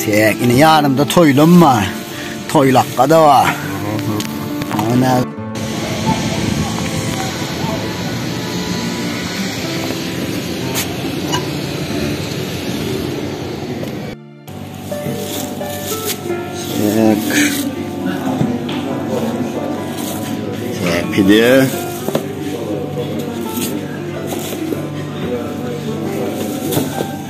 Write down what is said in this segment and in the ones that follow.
Täk ine ýanymda toýlam bar. Toýlakga-da bar. Ana. Pide.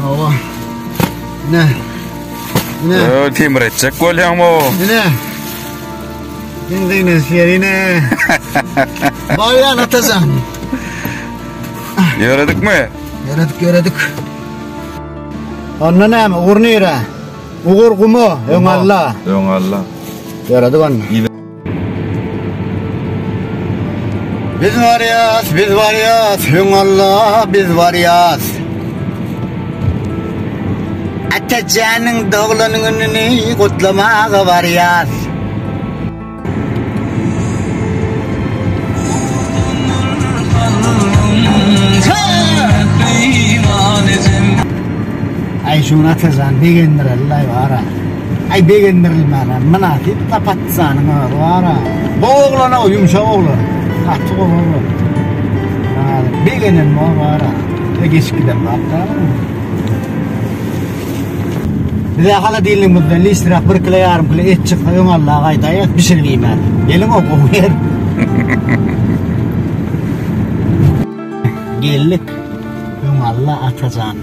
Hawa. Ne? Ne? Yo, timir etjek bolýan bu. Ne? Benzine serine. Bolýan atajan. Ýöredik mi? Ýöredik, ýöredik. Onda näme? Ugur nire? Ugur gumu, öň alla. Öň alla. Ýöredik onda. Biz barýas, biz barýas, öň Alla biz barýas. Atajanyň doglan gününi gutlamaga barýas. Aýşun Atajan begendirer laý bara. Aý begendirilmäne mynasyp da patizanyň özi bara. Bu oglana ýumşak oglan. Gaty gowy oglan. Maladys. Begenem bor bara. Ýa geçip giden bap dälmi? Bize holodilnigimizden listräk bir kilo ýarym kilo et çyksa öň Alla gaýdaýas bişirip iýmäs. Gelin o gowy ýer. Geldik. Öň Alla Atajan.